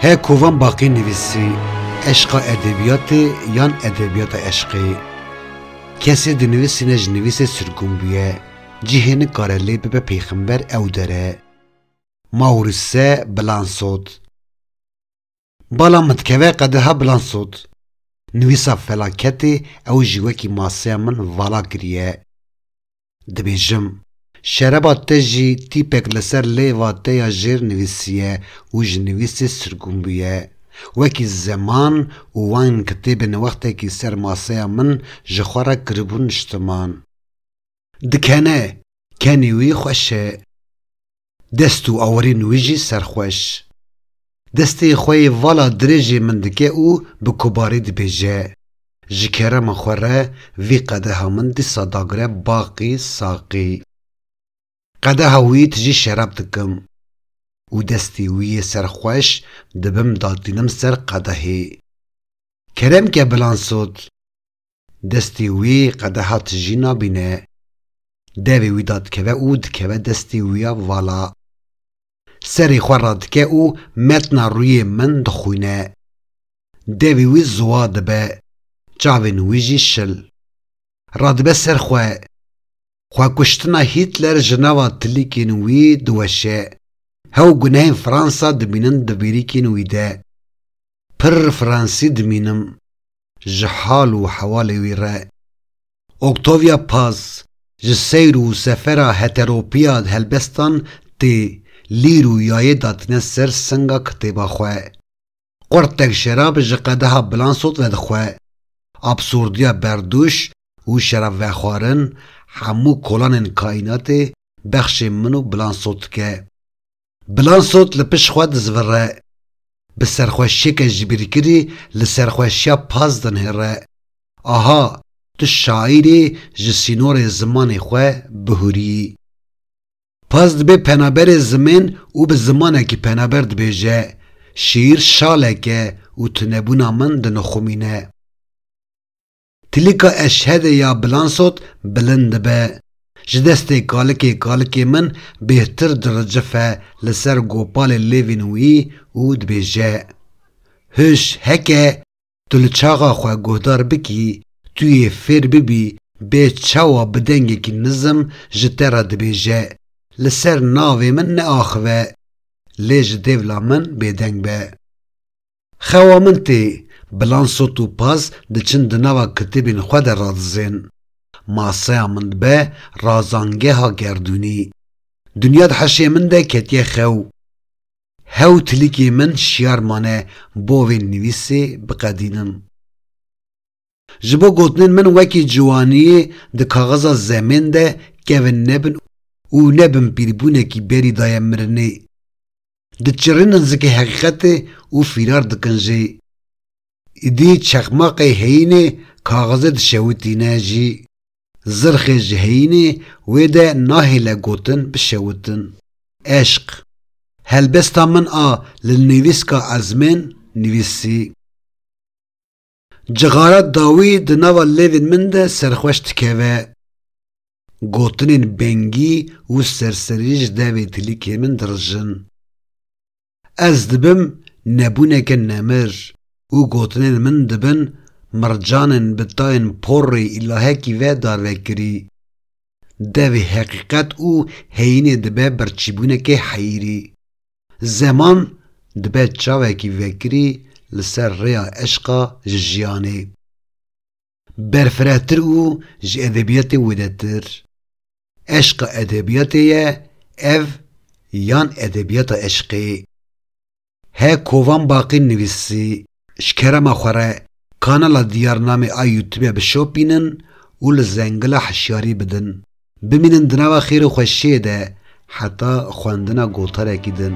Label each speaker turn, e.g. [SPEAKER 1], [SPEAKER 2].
[SPEAKER 1] He kovan baqî nivîsî eşqa edebiyatê yan edebiyata eşqê. Kesê di nivîsîne ji nivîsê sirgûn bûye, cihê nikare lê bibe pêxember ew dere. Maurice Blançot. Bala min dikeve qedeha bilan sot. Nivîsa felaketê ew jî wekî maseya min vala kiriye. Dibêjim, şereba te jî tîpek li ser lêva te ya jêr nivîsiye û ji nivîsê sirgûn bûye. Wekî zeman û wine kitêbê ne wextekî ser maseya min ji xwe re kiribû niştiman. Dikene, kenê wî xweş e. Dest û awirên wî jî serxweş. Destê xwe yê vala dirêjê min dike û bi kobarî dibêje, Ji kerema xwe re vî qedeha min dîsa dagire baqî saqî. Qedeha wî tijî şerab dikim û destê wî yê serxweş dibim datînim ser qedehê. Kerem ke bilansot! Destê wî qedeha tijî nabîne. Devê wî dadikeve û dikeve destê wî ya vala. Serê xwe radike û metna rûyê min dixwîne. Devê wî ziwa dibe, çavên wî jî şil. Radibe ser xwe. Xwekuştina Hîtler ji nava tilîkên wî diweşe. Hew gunehên Fransa dimînin di bîrîkên wî de. Pirr Fransî dimînim. ji hal û hewalê wî re. Octavia Paz ji seyr û sefera heteropiya helbestan tê lîr û yayê datine ser singa kitêba xwe. Qurtek şerab ji qedeha Blançot vedixwe. Absurdiya berdûş û şerabvexwarin hemû kolanên kaînatê bexşê min û Blançot dike. Bilansot li pişt xwe dizvire. Bi serxweşiyeke jibîrkirî li serxweşiya Paz dinihire. Aha, tu şaîrî ji sînorê zimanê xwe bihûrî. Paz dibê penaberê zimên û bi zimanekî penaber dibêje, Şîîr şalek e û tunebûna min dinixumîne. Tilika eşhedê ya Bilansot bilind dibe. Ji destê kalikê kalikê min bêhtir diricife li ser gopalê lêvên wî û dibêje, Huş heke tu li çaxa xwe guhdar bikî, tu yê fêr bibî bê çawa bi dengekî nizm ji te re dibêje, Li ser navê min neaxive, lê ji dêvla min bêdeng be. Xewa min tê, bilan sot û paz diçin di nava kitêbên xwe de radizên. Maseya min dibe razangeha gerdûnî. Dinya di heşê min de ketiye xew. Hew tilîkê min şiyar mane bo vê nivîsê biqedînim. Ji bo gotinên min wekî ciwaniyê di kaxiza zemên de kevin nebin û nebin pîrbûnekî berî daye mirinê. Diçirrînin zikê heqîqetê û fîrar dikin jê. Îdî çexmaqê heyînê kaxizê dişewitîne jî. Zirxê ji heyînê wê de nahêle gotin bişewitin. Eşq. Helbesta min a li nivîska ezmên nivîsî. Cixara dawî di nava lêvên min de serxweş dikeve. Gotinên bengî û serserî ji devê tilîkê min dirijin. Ez dibim nebûneke nemir û gotinên min dibin mircanên bi tayên porrê îlahekî ve darvekirî. Devê heqîqet û heyînê dibe birçîbûnekê heyîrî. Zeman dibe çavekî vekirî li ser rêya eşqa ji jiyanê. Berfirehtir û ji edebiyatê wêdetir. Eşqa edebiyatê ye ev yan edebiyata eşqê. He kovan Baqî nivîsî. Ji kerema xwe re kanala Diyar Namê a Youtube bişopînin û li Zengila hişyarî bidin. Bimînin di nava xêr û xweşiyê de heta xwendina gotarekî din.